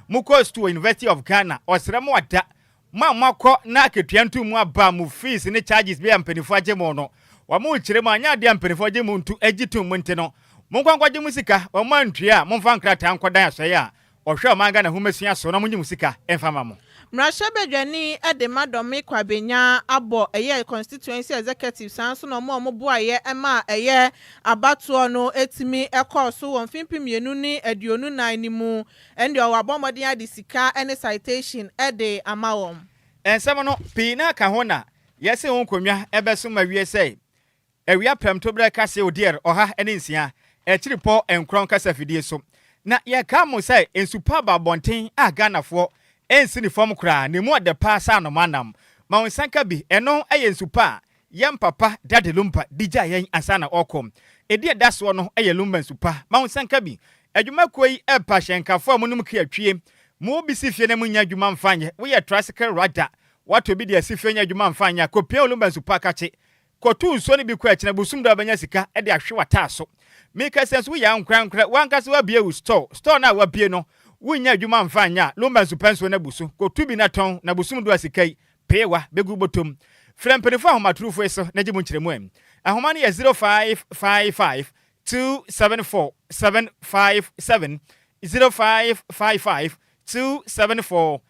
Mo kɔɔ sukuu wɔ University of Ghana, ɔsrɛ mo a da mo a mo akɔ na akatua nto mu aba a mo fees ne charges bi a mpaninfoɔ agye mo no wɔn rekyerɛ mu anyɛ adeɛ a mpaninfoɔ gye mo ntu gye tom mu nti no mo nkɔ nkɔgye mo sika wɔn antua a mo mfa nkrataa nkɔdan asɔeɛ a ɔhwɛ ɔman Ghana nhomasua so na mo nye mo sika mfa ma mo. Mmarahyɛbadwani de ma Dormir Kwabenya abɔ ɛyɛ constituency executive saa nso na wɔn a wɔn boaeɛ ma ɛyɛ abatoɔ no tumi kɔɔ so wɔ mfe mpem mmienu ne aduonu nan no mu ɛnde ɔwɔ abɔ mmɔden ade sika ne citation de ama wɔn. Nsɛm no pii na ka ho na yɛse wo nkonnwa bɛso ma wie sɛe Awia prɛmtoberɛ kase odeɛr ɔha ne nsia, akyiripɔ nkorɔn kasa fidie so. Na yɛkaa mo sɛ nsu pa aba abɔnten a Ghanafoɔ nsi ne fam koraa na ɛmu ɔdɛ paa saa nom anam. Ma wo nsa nka bi, ɛno yɛ nsu pa a yɛn papa Daddy Lumba de gyaa yɛn ansa na ɔrekɔ. Ɛdi ɛda soɔ no yɛ Lumba nsu pa. Ma wo nsa nka bi. Adwuma kuo yi pa hyɛnkafoɔ a monom kua twie. Mo bi si fie na mo nnya adwuma mfa nyɛ, woyɛ tricycle rider, woatɔ bi de asi fie nyɛ adwuma mfa nyɛ a, kɔpia wo Lumba nsu pa kakye Kɔtow nsuo no bi kɔ akyina bosom da wobɛnya sika de ahwe w'ataaso. Meka sɛ nso woyɛ ankorankorɛ w'ankasa w'abie wo store, store no a w'abie no wonnya adwuma amfa anyɛ a lomba nso pɛ nsuo no abu so, kɔtu bi na tɔn na bosom du a sika yi, pee wa, bɛgu wobɔtɔm. Frɛ mpaninfoɔ ahomatorofo yi so na gye mu nkyerɛmu ɛ. Ahoma no yɛ 0555 274 757, 0555 274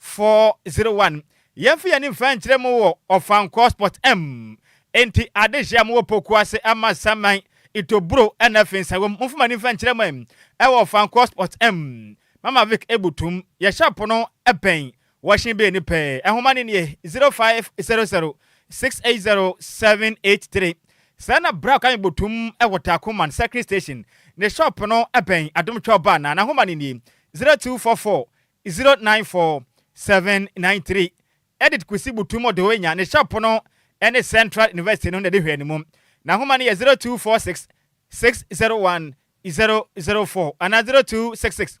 401 Yɛmfa yɛn ani mfa nkyerɛ mo wɔ Ɔfankɔ Spot M Enti adehye a mowɔ Poku ase ama saman, itoburo ɛna afei nsa wom Momfa mo ani mfa nkyerɛ me wɔ Ɔfankɔ Spot M Mama Vic ebu tum Yɛ shop no pɛn Wɔhye bee ne pɛ Nhoma no nie 0500 680 783 Sɛɛ na Bra ka me botum wɔ Takuman Circling Station Ne shop no pɛn Adom Twelve Bar na N'ahoma no nie 0244 Zero nine four seven nine three Edit Kwesi Butum Odewenya ne shop no ne Central University no na ɛde hwɛɛ no mu. N'ahoma no yɛ zero two four six six zero one zero zero four anaa zero two six six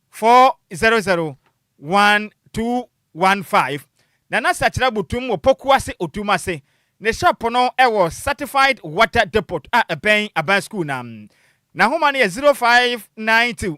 four zero zero one two one five. Nana Sakyera Butum wɔ Pokuase Otum ase. Ne shop no wɔ Certified Water Depot a ɛbɛn Aban Sukuu no ano. N'ahoma no yɛ zero five nine two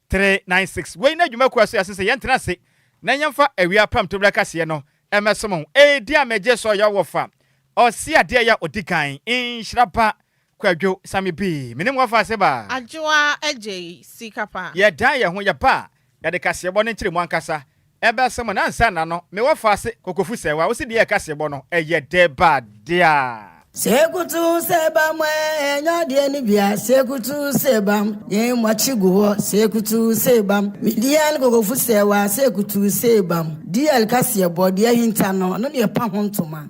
Three, nine, six, Wei ne adwuma kuo a so yɛase sɛ yɛntena ase na yɛmfa awia apam tobira kaseɛ no mmɛsom ho. Edi a megye so yɛ ɔwɔfa ɔse adeɛ yɛ a ɔdi kan, nhyira pa, Kwadwo Same Bii. Menim wɔfa ase ba. Adwoa agyei sika pa. Yɛdan yɛn ho yɛba a yɛde kaseɛbɔ no nkyerɛmu ankasa Ebɛso mo nansana no me wɔ fase kokofu sɛ wa wosi deɛ ɛka sebɔ no ɛyɛ dɛ ba dea. Se kutu se bam ɛ ɛ nya deɛ ne bia se kutu se bam ne mɔ kye gu hɔ se kutu se bam me deɛ ne kokofu sɛ wa se kutu se bam deɛ ɛka seɛ bɔ deɛ hinta no ɔno deɛ pa ho ntoma.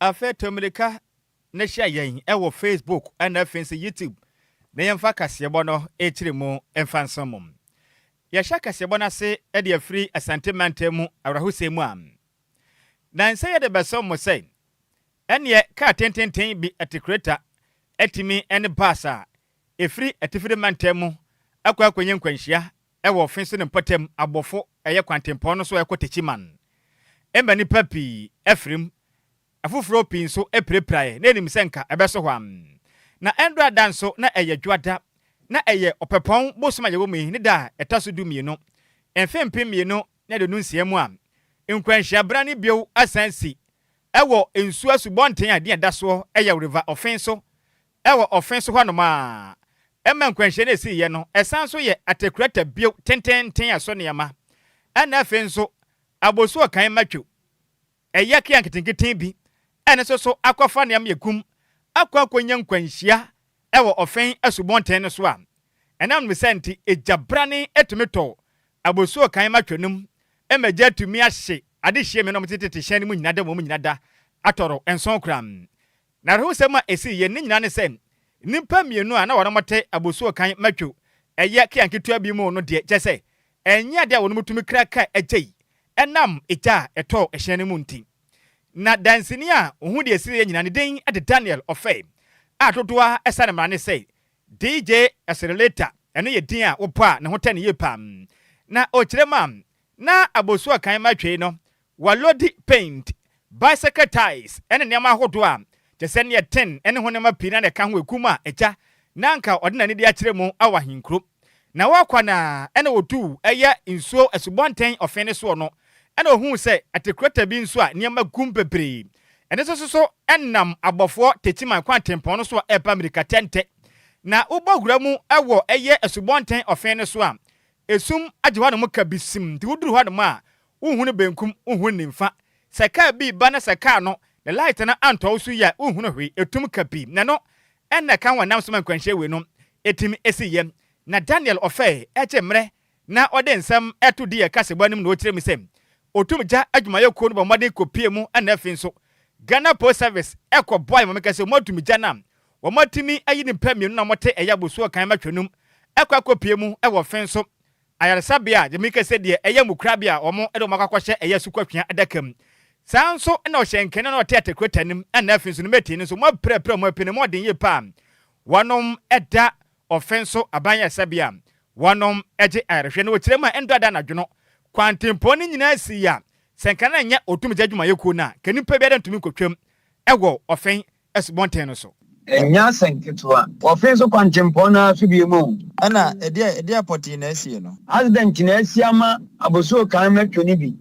Afei to mmirika na hyia yɛn wɔ Facebook na afei nso YouTube na yɛmfa kaseɛbɔ no kyerɛ mu mfa nsom mo. Yɛhyɛ kaseɛbɔ no ase de afiri Asante Mantam mu awerɛhosɛm mu a, na ɛnsɛ yɛde bɛsom mo sɛ, Ɛnneɛ kaa tententen bi te kreta atumi ne bus a Ɛfiri atifi de mantam mu kɔ akɔnya nkwanhyia wɔ ɔfe so ne mpɔtam abɔfo ɛyɛ kwantempɔn no so ɛkɔ Techiman. Ɛma nnipa pii firi mu. Afoforɔ pii nso pirapiraeɛ na ɛnim sɛ nka ɛbɛso hɔ ara. Na ɛndɔ a da nso na ɛyɛ Dwoada. Na ɛyɛ Ɔpɛpɔn bosom a yɛwɔ mu yi ne da a ɛtɔ so dumienu. Mfe mpem mmienu ne aduonu nsia mu a nkwanhyia bra no bio asan asi wɔ nsuo asubɔnten a din a ɛda soɔ yɛ River Ɔfe so Ɛwɔ ɔfe so hɔnom ara ma nkwanhyia no siiɛ no, ɛsan nso yɛ Atekurata bio tenteenten ɛso nneɛma, ɛna afei nso Abosuo kan ma twiw, ɛyɛ kea nketenkete bi a ɛno nso so akɔfa nneɛma yɛ kum akɔ akɔnya nkwanhyia ɛwɔ ɔfe asubɔnten no so a ɛnam ne saa nti egya brane tumi tɔ Abosuo kan ma twiw no mu ma egya atumi ahye adehyeɛ mmienu a wɔte tete hyɛn no mu nyina da wɔn nyina da atɔro nson koraa. N'awerɛhosɛm a esii yɛn no nyinaa ne sɛ nnipa mmienu a na wɔte abusua kan ma twiw, ɛyɛ kea nketewa bi mu no deɛ, kyerɛ sɛ, ɛnyɛ ade a wɔn tumi kra kaa akyei ɛnam gya a ɛtɔɔ hyɛn no mu nti. Ná danseni a ohuu deɛ esiiɛ nyinaa, ne din de Daniel Offe, a dodoɔ ara ɛsane mmara ne sɛ DJ Esreleta, ɛno yɛ din a wobɔ a ne ho tɛ no yie pa ara, na ɔkyerɛ mu a na abusua kan ma twiw no Wɔalodi paint, bicycle tyres ne nneɛma ahodoɔ a kyerɛ sɛ neɛ ten ne ho nneɛma pii na na ɛka ho ɛku mu a agya na anka ɔde n'ani de akyerɛ mu wɔ ahenkuro. Na wɔ kwan a ɛna wɔduu ɛyɛ nsuo asubɔnten ɔfe no soɔ no ɛna ɔhuu sɛ ɛte krɔta bi nso a nneɛma gu mu bebree. Ɛno nso so so ɛnam abɔfoɔ Techiman kwan tempɔn no so a ɛreba mmirika tɛntɛ. Na wobɔ wura mu wɔ ɛyɛ asubɔnten ɔfe no so a ɛsum agye hɔ nom kabisim nti woduru hɔ nom a wonhu no benkum, wonhu no nimfa. Sɛ kaar bi reba na sɛ kaar no ne light no anntɔ wo so yie a, wonhu no hwee. Etum ka pii, na no na ɛka ho a nam so ma nkwanhyia wei no tsim siiɛ. Na Daniel ɔfɛɛ gye mmerɛ na ɔde nsɛm to di yɛ kasebɔ anim na ɔkyerɛ mu sɛ otum gya adwumayɛ kuo no bɔ mmɔden kɔ pie mu na afei nso Ghana Post Service kɔ boae ma mekɛ sɛ wɔn atum gya no a wɔn atumi ayi nipa mmienu na wɔte ɛyɛ abosuo kan matwa num kɔ akɔ pie mu wɔ fee nso Ayaresabea, gye meka sɛ deɛ ɛyɛ mmukrabea a wɔn de wɔn akɔ akɔhyɛ ɛyɛ asukɔtwea adaka mu. Saa nso na ɔhyɛ nkɛne na ɔte atekreta no mu ɛna afei nso ne mɛtee no nso moapirapira wɔn apini mu ɔden yie paa. Wɔnom da ɔfe nso aban ayaresabea wɔnom gye ayarehwɛ na wɔkyerɛ mu a ɛndɔ ada anadwo no. Kwantempɔn no nyinaa sii a sɛ nka na ɛnyɛ ɔtumgya adwumayɛkuo no a nka nipa biara ntumi nkɔtwam wɔ ɔfe asubɔnten no so. Ɛnyɛ asɛm ketewa. Wɔfe nso kwankyempɔn no ara so bio mu o. Ɛna ɛdeɛn ɛdeɛn pɔtee na asie no? Accident na asi ama abosuo kan mɛtwe no bi.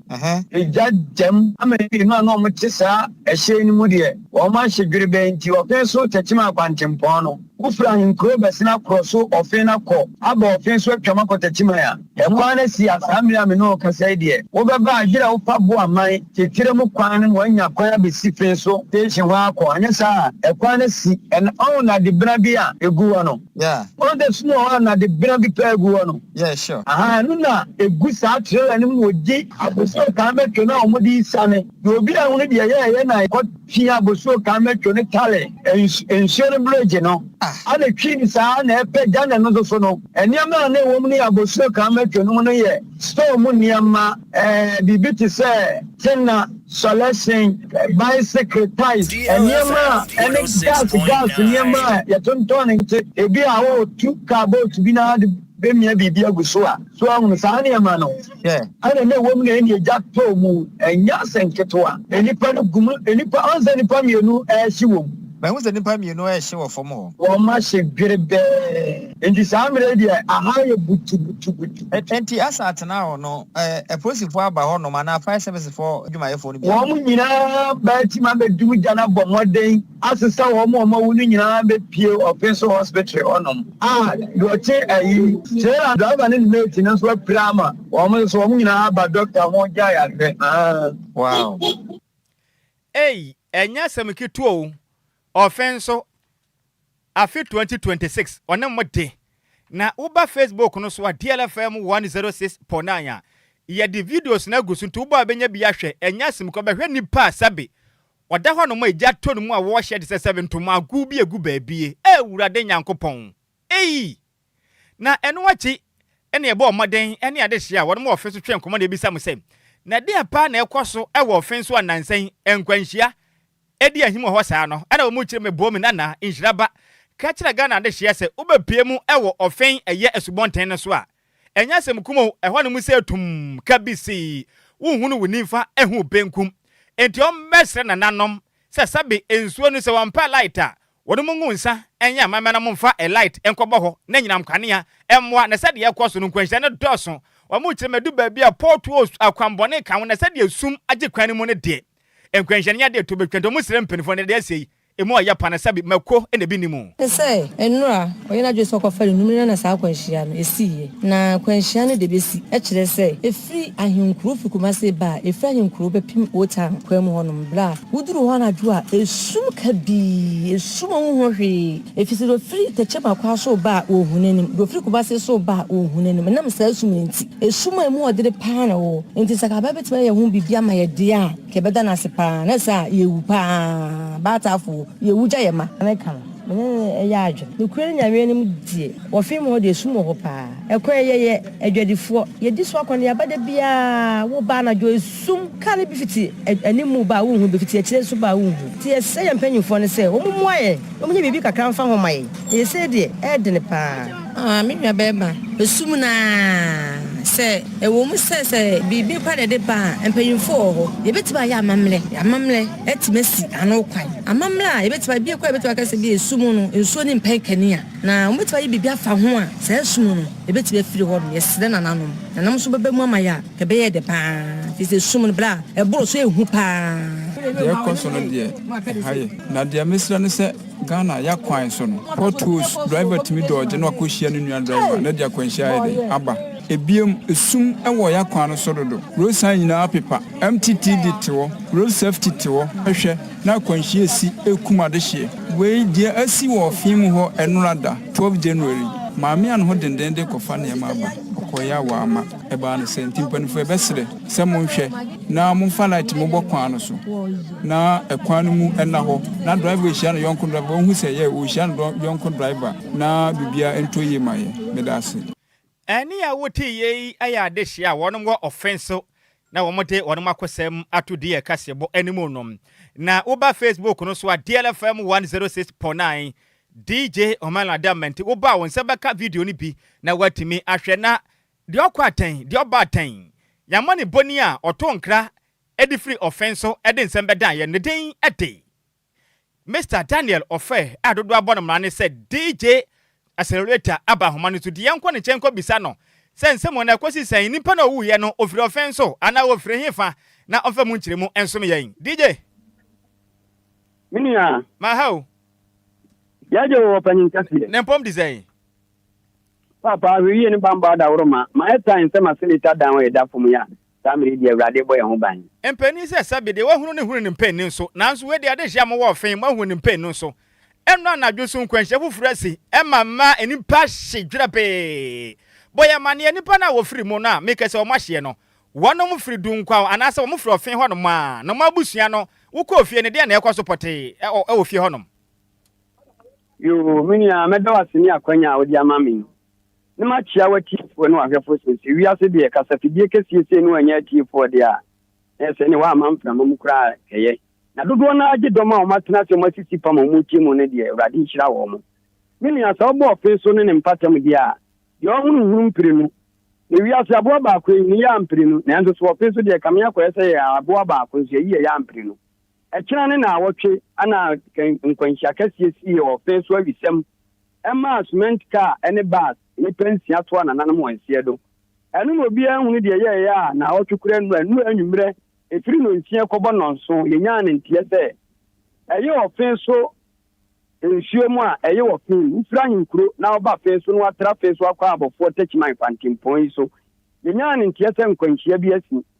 Egya gyam ama mmienu a na wɔte saa ɛhyɛn no mu deɛ wɔn ahye dwerebɛn nti wɔfe nso tɛkyem a kwankyempɔn no. Wofiri ahenkurow bɛsena koro so ɔfe na kɔ aba ɔfe so atwam akɔ Tɛtiman a. Ɛkwan no si a saa mmere a me ne wo rekasa yi deɛ, wobɛba a yerɛ wo fa boa man titire mu kwan no na woanya kwan abɛsi fe so station hɔ ara kɔ, anyɛ saa a ɛkwan no si ɛna ɔho nnade bena bi a ɛgu hɔ no. Yeah. Ɔho da sum a ɔho a nnade bena bi paa gu hɔ no. Yeah, sure. Ahaa, ɛno na ɛgu saa trailer no mu wɔ gye. Abosonkaa bɛtwam a wɔde resiane. Na obiara nhunu deɛ ɛyɛ a ɛyɛ na ɛkɔ. Twi abosuo kan mɛtwo ne tare nsuo no bregye no ane twi no saa na ɛpɛ gya na ɛno nso so no nneɛma a na ɛwɔ mu no yɛ abosuo kan mɛtwo no mu no yɛ store mu nneɛma ɛɛ biribi te sɛ tenna sɔlɛsen bicycle ties nneɛma a ɛne gas gas nneɛma a yɛtontɔn ne nti ebi a wɔretu kaa boat bi na de bɛmia biribi agu so a so ahunu saa nneɛma no. Hwɛ! Ɛna na ɛwom na ɛne egya tɔɔ mu. Ɛnyɛ asɛm ketewa. Nnipa no gu mu. Nnipa, ɔn sɛ nnipa mmienu rehye wɔ mu. Mahu sɛ nnipa mmienu rehye wɔ fam hɔ. Wɔahye dwerebɛɛ. Enti saa mmerɛ yi deɛ, aha ayɛ butubutubutu. Enti Asa atenaa hɔ no, apolisifoɔ aba hɔnom, anaa fire service foɔ adwumayɛfoɔ no biara. Wɔn nyinaa baa ti ma bɛdi mu gya no abɔ mmɔden. asesa wɔn a wɔawu no nyinaa bepue ɔpɛ so hospital hɔnom. A Dɔte ayi, trailer driver ne ne mate no nso apira ama wɔn nso wɔn nyinaa aba doctor ho gya yare. Wow. Ei, ɛnyɛ asɛm ketewa o. Ɔfe nso. Afe 2026 ɔne mo de. Na woba Facebook no so a DLFM 106.9 a, yɛde videos no agu so nti wobɔ a bɛnya bi ahwɛ. Ɛnyɛ asɛm kura, bɛhwɛ nipa a sɛbe ɔda hɔ nom a egya tɔ ne mu a wɔɔhyɛ te sɛ sɛbe ntomaa gow bi a egu baabie. Awurade Nyankopɔn! Ei! Na ɛno akyi na yɛbɔɔ mmɔden ne adehye a wɔnom wɔ ɔfe so twee nkɔmmɔ na yɛbisa mo sɛ, Na deɛn paa na ɛkɔ so wɔ ɔfe so a nnansa yi nkwanhyia di ahim wɔ hɔ saa no? Ɛna wɔn mu kyerɛ me bɔɔ mu Nana nhyira ba ka kyerɛ Ghana adehyeɛ sɛ wobɛpue mu wɔ ɔfe ɛyɛ asubɔnten no so a ɛnyɛ asɛm kum o ɛhɔ nom sɛ tum ka bi se wonhunu wo nimfa hu benkum enti wɔmmɛsrɛ nananom sɛ sɛbe nsuo no sɛ wɔmpɛ light a Wɔnom ngu nsa nyɛ amammerɛ na wɔmfa light nkɔbɔ hɔ na anyinam kanea mmoa na sɛdeɛ ɛkɔ so no nkwanhyia no dɔɔso. Wɔn kyerɛ mu adu baabi a potholes, akwanbɔne, ka ho na sɛdeɛ sum agye kwan no mu no deɛ nkwanhyia no nyɛ adeɛ ɛtɔ bɛtwa nti wɔn srɛ mpaninfoɔ no deɛ ɛsei ɛmu ayɛ pa na sɛbe mako na ɛbi nni mu. Te sɛ nnora a ɔyɛ n'adwene sɛ ɔkɔfa no nnum no na saa akwanhyia no ɛsiiɛ na akwanhyia no deɛ ɛbɛsi kyerɛ sɛ Firi ahenkuro firi Kumase ba a, ɛfiri ahenkuro bɛpem Old Town kwan mu hɔnom. Berɛ a woduru hɔ anadwo a, ɛsum kabii, ɛsum a wonhunu hwee. Ɛfiri sɛ deɛ ɔfiri Tekyem Akwaa so reba a, ɔnhu n'anim, deɛ ɔfiri Kumase so reba a, ɔnhu n'anim, ɛnam saa sum no nti. Ɛsum a ɛmu ɔdene pa ara na ɛwɔ hɔ. Enti sɛ anka aban bɛtumi ayɛ ho biribi ama yɛn deɛ a, anka yɛbɛda no ase pa ara. Anyɛ saa a, yɛwu pa ara. Baatafoɔ, yɛwu gya yɛn mma. Mene no yɛ adwen. Nokorɛ Nyameɛ no mu deɛ, wɔfee mo hɔ deɛ, sum wɔ hɔ paa. Ɛkwan yi, yɛyɛ adwadifoɔ. Yɛdi so akɔneaba da biara. Woba anadwo, esum kane bi fiti animu ba a, wonhu, bi fiti akyire nso ba a, wonhu. Enti yɛsrɛ yɛn mpanimfoɔ no sɛ wɔmmoa yɛn na wɔnyɛ biribi kakra mfa ho mma yɛn, na yei sei deɛ, ɛyɛ dene paa. Ah, me nuabarima, esum no ara sɛ ɛwom sɛ sɛ biribi pa na ɛde ba a, mpanyimfo wɔ hɔ. Yebetumi ayɛ amammerɛ. Amammerɛ atumi asi ano kwan. Amammerɛ a yebetumi ayɛ, bi koraa a yebetumi aka sɛ bi a esum no, nsuo ne mpɛn kanea, na wɔbetumi ayɛ biribi afa ho a, saa esum no, ebetumi afiri hɔnom. Yɛsrɛ nananom, nananom nso bɛba mu ama yɛn a, anka ɛbɛyɛ dɛ paa, efisɛ esum no, bere a ɛboro so a, ehu paa. Deɛ ɛrekɔ so no deɛ, ɛha yɛ. Na deɛ mesrɛ ne sɛ. Ghana ya kwan so no, potholes, driver tumi dodge na wakɔ hyia ne nua driver na ɛde akwanhyia ayɛ dɛn aba. Ebiem, esum wɔ ya kwan no so dodo, road sign nyinaa apepa, MTTD te hɔ, road safety te hɔ, hwɛ na akwanhyia esi ɛrekum adehyeɛ. Wei deɛ asi wɔ ɔfee mu hɔ ɛnora da, twelve January, maame a ne ho dendenden de rekɔfa nneɛma aba, ɔkɔeɛ a wamma. Ɛbaa no sɛ, nti mpaninfoɔ bɛsrɛ sɛ monhwɛ na momfa light mobɔ kwan no so na ɛkwan no mu ɛna hɔ na driver ɛhyia no yɔnko driver ɔhu sɛ yɛ ɔhyia no dɔ yɔnko driver na bibia ɛntɔ yie ma yɛ. Medaase. Ɛne a wote yei yɛ adehyeɛ a wɔnom wɔ ɔfen so na wɔn de wɔnom akosɛm ato deɛ kaseɛbɔ anim no. Na woba Facebook no so a Diel FM 106.9 DJ Homelanda Menti woba a wo nsa bɛka video no bi na woatumi ahwɛ na Deɛ ɔkɔ atɛn, deɛ ɔba atɛn. Yɛn mmɔne bɔ ni a ɔtoo nkra de firi ɔfɛn so de nsɛm bɛdaa yɛn, ne din de Mister Daniel Ofɛ a dodoɔ abɔ no mmara ne sɛ DJ Accelerator aba ahoma no so nti yɛnkɔ ne nkyɛn nkɔbisa no sɛ nsɛm wɔ na ɛkɔsi sɛn? Nipa no a ɔwuiɛ no ɔfiri ɔfɛn so anaa ɔfiri hefa na ɔmfa mu nkyerɛmu nsom yɛn. DJ. Me nua. Maha o. Yɛagye wo ɔpanyin kɛseɛ. Ne mpɔm te sɛn? Paapa, hwɛ yie ne banbɔ adaworoma, ma ɛtaa yɛn sɛ ma sɛdeɛ ɛtaa dan wɔ yɛn da fam yi a, saa mmerɛ yi deɛ Awurade rebɔ yɛn ho ban. Mpanin sɛ sɛbe deɛ wahunu no hunu ne mpanin nso, nanso wei deɛ adehyia mo wɔ fee moahunu ne mpanin nso. Ɛnnɔ anadwo nso nkwanhyia foforɔ asi, ɛma mma nnipa hye dwerɛbee. Bɔ yɛn amaneɛ, nnipa no a wɔfiri mu no a meka sɛ wɔn ahyeɛ no, wɔnom firi Dunkwaw anaasɛ wɔn firi ɔfee hɔnom a, na wɔn abusua no, wokɔɔ fie no deɛn na ɛrekɔ so pɔtee wɔ fie hɔnom? Yoo, me nua, mɛda wo ase ne akwanya a wode ama me yi, na makyia w'atiefoɔ ne w'ahwɛfoɔ seesei. Wiase deɛ, kasafidie kɛseɛ sei no annya atiefoɔ deɛ a, na ɛsɛ ne woamma mframa mu koraa kɛyɛ. Na dodoɔ no ara gye dɔm a wɔatena ase a wɔasisi fam a wɔretie mu no deɛ, Awurade nhyira wɔn. Me nua, sɛ wobɔ ɔfe so ne ne mpɔtam deɛ a, deɛ ɔhunu nhunu mprenu. Na wiase aboa baako yi, ne yea mprenu, nanso so ɔfe so deɛ, kame akɔyɛ sɛ yɛyɛ aboa baako nso, yɛyi yɛ yea mprenu. Ɛkyena ne naawɔtwe na nkwanhyia kɛseɛ siie wɔ fee so awisɛm ɛmaa cement car ɛne bus nnipa nsia toa nananom wɔn nseɛ do. Ɛno na obiara nhunu deɛ yɛɛyɛ a naawɔtwe kora nnura nnura anwummerɛ ɛfiri nnɔnsia kɔbɔ nnɔnso yɛnyaa no nteɛ sɛ ɛye wɔ fee so nsuo mu a ɛye wɔ fee mu wofiri ahenkuro na woba fee so na woatra fee so akɔ abɔfoɔ takyiman fantempɔn yi so yɛnyaa no nteɛ sɛ nkwanhyia bi asi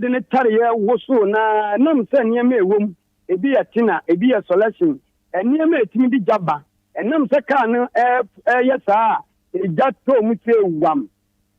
de ne tareɛ wosoo no ara ɛnam sɛ nneɛma a ɛwɔ mu, ebi yɛ tina, ebi yɛ sɔlɛhyen, nneɛma a ɛtumi de gya ba. Ɛnam sɛ kaa no reyɛ saa a, egya tɔɔ mu sɛee wam.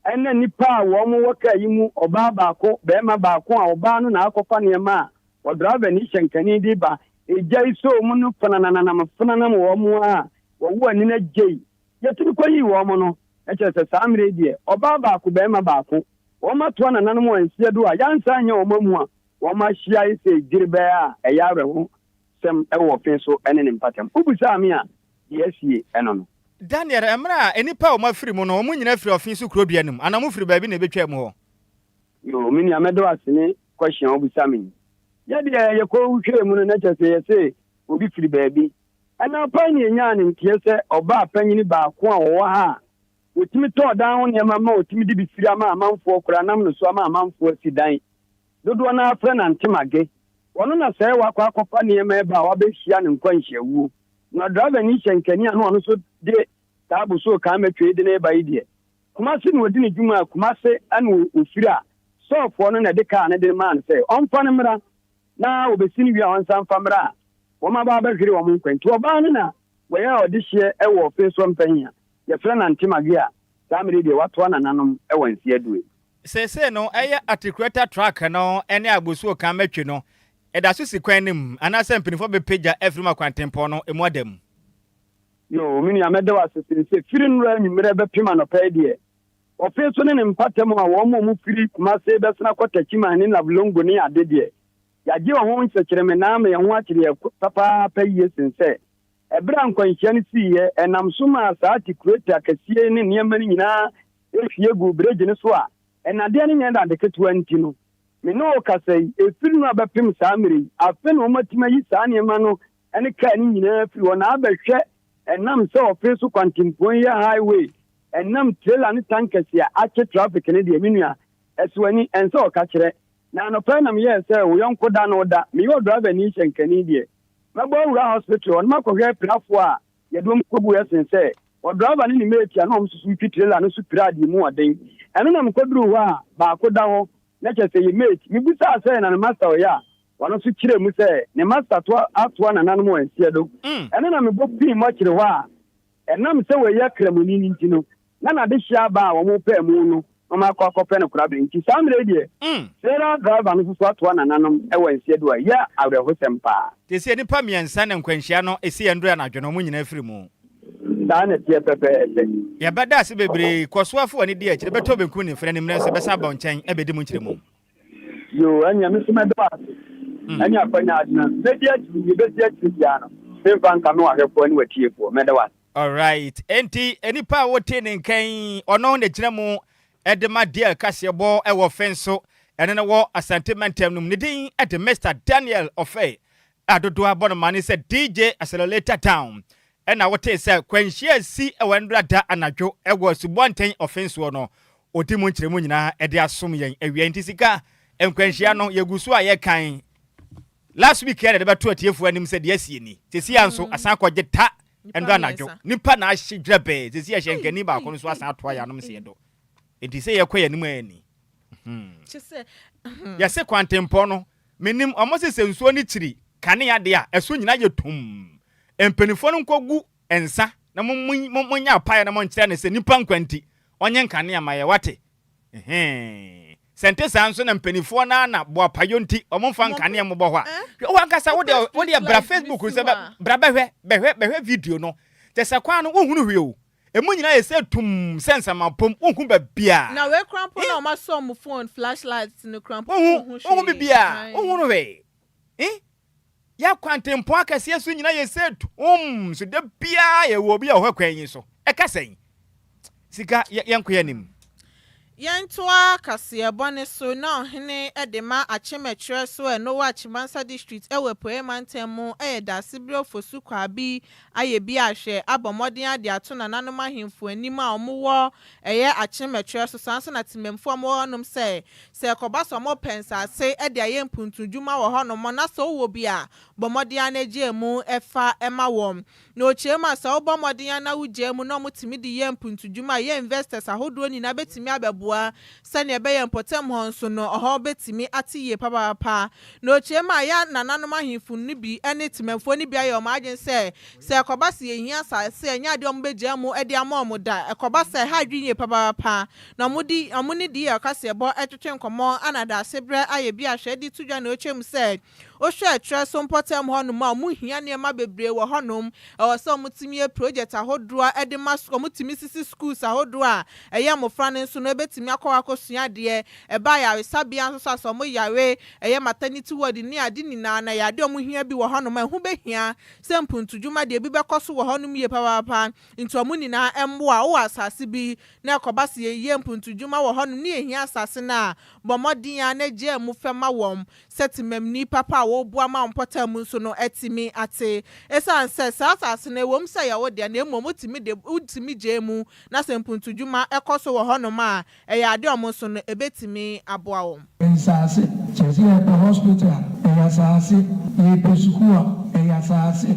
Ɛnna nnipa a wɔwɔ kaa yi mu, ɔbaa baako, barima baako a ɔbaa no na akɔfa nneɛma a ɔdraiva ne hyɛnkani de reba. Egya yi sɔɔ mu no fenanananam fenanam wɔn ara a wɔwoo ani no agyei. Yɛtumi kɔyii wɔn no, na kyerɛ sɛ saa mmerɛ yi deɛ, ɔbaa baako, barima baako. Wɔatoa nananom hɔn nseɛ do a yɛannsan annyɛ hɔn ammu a wɔahyia ese dwerebɛɛ a ɛyɛ awerɛhosɛm wɔ ɔfe so ne ne mpatam. Wobisaa me a, dza esie no no. Daniel, mber a nyimpa a wɔafir mu no, hɔn nyina fir ɔfe so kurowbea no mu, ana mofir beebi na ebetwaa mu hɔ? Yoo, me nua, meda wo ase ne question a wobisa me yi. Yɛ deɛ yɛkɔhwɛɛ mu no, na kyerɛ sɛ yɛse obi firi baabi. Ɛna pa yi na yɛnyaa ne nteɛ sɛ ɔbaa panyin baako a ɔwɔ ha a Wɔtumi tɔɔ dan ho nneɛma ma wɔtumi de bi firi ama amanfoɔ koraa nam no so ama amanfoɔ asi dan. Dodoɔ no ara frɛ no Antemage. Ɔno na sɛɛ wakɔ akɔfa nneɛma ɛba a wabɛhyia no nkwanhyia awuo. Na drivani hyɛ nkani a na ɔno nso de saa bosoo kan mɛtwei de no reba yi deɛ, Kumase na ɔdi ne dwuma a Kumase na ɔfiri a sɔɔfoɔ no na ɛde kaa no de no maa no sɛ ɔmfa no mmra na wɔbɛsi no wie a ɔnsan mfa mmra a wɔn aba abɛhwere wɔn nkwa nti ɔbaa no na wɔyɛ ɔdehyeɛ wɔ Ofesoɔ Mpɛnhia. Yɛfrɛ no Ante Maguei a saa mmere yi deɛ watoa nananom wɔ nse adue. Seesei no, ɛyɛ Articulator Truck no ne Agbosuo Kan Matwi no ɛda so si kwan no mu anaasɛ mpanyinfoɔ bɛpagya afiri mu akɔ Antempɔn no ɛmu ada mu. Yoo, me nua mɛda wo ase sene sɛ firi nnora anwummerɛ bɛpem anɔpa yi deɛ, ɔfe so ne ne mpata mu a wɔn a wɔn firi Kumase bɛsene akɔ Techiman ne Navlongo ne ade deɛ, yɛagye ɛho nkyerɛkyerɛme na ama yɛn ho akyere yɛn papaapa yie sene sɛ Bere a nkwanhyia no sii yɛ, ɛnam so maa saa tikureti akɛseɛ yi ne nneɛma no nyinaa hwie guu bregye no so a nnadeɛ no nyɛ nnade ketewa nti no, me ne wo kasa yi, ɛfiri nnora bɛpem saa mmerɛ yi, afe na wɔatumi ayi saa nneɛma no ne kaa no nyinaa afiri hɔ na abɛhwɛ ɛnam sɛ wɔfee so kwantempɔn yɛ highway ɛnam trailer ne tankɛse a akye traffic no deɛ, me nua, ɛso ani, ɛnsɛ ɔka kyerɛ. Na anɔpa yi na meyɛɛ sɛ wo yɔnko da no da, meyɛ ɔdrivani hyɛnkani deɛ. Mɛbɔ awura hospital hɔ na makɔhwɛ pirafoɔ a yɛde wɔn kɔgu ɛsen sɛ ɔdriver ne ne mate a na wɔn susu retwi trailer no so piraa deɛ mu ɔden. Ɛno na mekɔduruu hɔ a baako da hɔ na kyerɛ sɛ yɛ mate. Mebisaa sɛ na ne master ɔyɛ a, ɔno nso kyerɛɛ mu sɛ ne master toa atoa nananom wɔn nseɛdo. Ɛno na mebɔ fii mortuary hɔ a. Ɛnam sɛ wɔyɛ Kramoni no nti no, na n'adehyeɛ aba a wɔpɛɛ mu no na wɔakɔ akɔpɛ no korabea. Enti saa mmerɛ yi deɛ, trailer driver no nso so atoa nananom wɔ nseɛ do a ɛyɛ awerɛhosɛm pa ara. Seesei nnipa mmiɛnsa na nkwanhyia no siiɛ nnora anadwo no, wɔn nyinaa afiri mu. Saa na ɛteɛ pɛpɛɛpɛ. Yɛbɛda ase bebree. Kɔ so afa w'ani di akyire. Bɛtɔ benkum ne nifa na ne mmerɛ nso bɛsan aba wo nkyɛn abɛdi mu nkyerɛmu. Yoo, ɛnneɛ me nso mɛda wo ase. Ɛnneɛ akwanya adena. Mɛdi akyiri, deɛ ɛbɛsi akyire biara no, memfa nka me wahwɛfoɔ ne watiefoɔ. Mɛda wo ase. Alright, enti nipa a wotee ne nka yi, ɔno na gyina mu de ma Dale kaseɛbɔ wɔ Ɔfɛn so. Ɛno no wɔ Asante Mantam no mu. Ne din de Mister Daniel Ɔfɛn. a dodoɔ ara bɔ no mane sɛ DJ Accelerator Down. Ɛna wotee sɛ kwanhyia si wɔ ɛnnora da anadwo wɔ asubɔnten ɔfen soɔ no, ɔdi mu nkyerɛmu nyinaa de asom yɛn awia nti sika nkwanhyia no yɛgu so a yɛkan last week yɛde bɛto atiefoɔ anim sɛ deɛ asie ni. Sesia nso asan kɔ gye ta ɛnnora anadwo. Nipa na ahye dwerɛbɛɛ sɛsi yɛhyɛ nkani baako no so asan atoa yɛn anom seɛ do nti sɛ yɛkɔ yɛn anim a ɛni. Yɛse kwantempɔn no Menim, ɔmo se sɛ nsuo no kyiri kanea deɛ a, ɛso nyinaa yɛ tumm. Mpaninfoɔ no nkɔgu nsa na monyɛ apaeɛ na monkyerɛ no sɛ nnipa nkwa nti, ɔnyɛ nkanea mma yɛn, wate? Ɛhee. Sɛ ɛnte saa nso na mpaninfoɔ no ara na boapayɔ nti ɔmo mfa nkanea mmobɔ hɔ a, hwɛ wo ankasa wo deɛ, wo deɛ bra Facebook no sɛ bra bɛhwɛ, bɛhwɛ, bɛhwɛ video no, kyɛsɛ kwan no wonhunu hwee o. Emu nyinaa yɛ sɛ tumm sɛ nsɛmapom, wonhu baabi a. Na wei koraa mpo na wɔasɔ wɔn phone flash lights no koraa mpo, wonhu hwee. Wonhu biribiara, wonhu no hwee. Ih! Yɛn kwantempɔn akɛseɛ so nyinaa yɛ sɛ tumm so da biara yɛwɔ obi a ɔhwɛ kwan yi so. Ɛka sɛn? Sika, yɛnkɔ yɛn anim. Yɛntoa kaseɛbɔ no so na ɔhene de ma akyem ɛkyerɛ so ɛ Nowa Chimansa District wɔ Apueɛ Mantam mu yɛ Daasebire Ofosu Kwabi ayɛ bi ahwɛ abɔ mmɔden ade ato nananom ahemfo anim a wɔn wɔ ɛyɛ akyem ɛkyerɛ so saa nso na Temamufoɔ a wɔn wɔ hɔ nom sɛ sɛ ɛkɔba sɛ wɔn pɛ nsaase de ayɛ mpuntu dwuma wɔ hɔ nom na sɛ wo wɔ bi a bɔ mmɔden ara na gye ɛmu fa ma wɔn Na okyerɛ mu a, sɛ wobɔ mmɔden ara na wugyaa mu na wɔtumi de yɛ mpuntudwuma a, yɛn investors ahodoɔ nyinaa bɛtumi abɛboa sɛdeɛ ɛbɛyɛ mpɔtam hɔ nso no, ɛhɔ bɛtumi ate yie papaapa. Na okyerɛ mu a, yɛn nananom ahemfo no bi ne temanfoɔ no bi ayɛ wɔn adwene sɛ, sɛ ɛkɔba sɛ yɛhia asaase a, ɛnyɛ adeɛ a wɔbɛgyaa mu de ama wɔn da. Ɛkɔba saa a, ɛha adwene yie papaapa. Na wɔde wɔn ne DL kaseɛbɔ twetwe nkɔmmɔ, ɛna daasebrɛ ayɛ bi a, hwɛ, de to dwa. Na okyerɛ mu sɛ, Wohwɛ ɛtwerɛ so mpɔtam hɔnom a, wɔhia nneɛma bebree wɔ hɔnom. Ɛwɔ sɛ wɔtumi yɛ project ahodoɔ a ɛde ma sukuu, wɔtumi sisi schools ahodoɔ a ɛyɛ mmɔfra no nso no bɛtumi akɔ hɔ akɔsua adeɛ. Ɛba ayaresabea nso so a, sɛ wɔyare, ɛyɛ maternity ward ne ade nyinaa no, ɛyɛ adeɛ a wɔhia bi wɔ hɔnom a ɛho bɛhia sɛ mpuntudwuma deɛ bi bɛkɔ so wɔ hɔnom yie papaapa. Nti wɔn nyinaa mmoa. Wowɔ asase bi na ɛkɔba sɛ yɛyɛ mpuntudwuma wɔ hɔnom ne yɛhia asase no a, bɔ mmɔden ara na gyaa mu fɛ ma wɔn. sɛ temamni papa a wɔreboa ma wo mpɔtam mu nso no atumi ate. Esiane sɛ saa asase no, ɛwom sɛ ɛyɛ wo dea na mmom wotumi de, wotumi gyae mu, na sɛ mpuntuwdwuma kɔ so wɔ hɔnom a, ɛyɛ ade a wɔn nso no, ebetumi aboa wɔn. Nsase, kyerɛ sɛ yɛpɛ hospital a, ɛyɛ asase, yɛrepɛ sukuu a, ɛyɛ asase,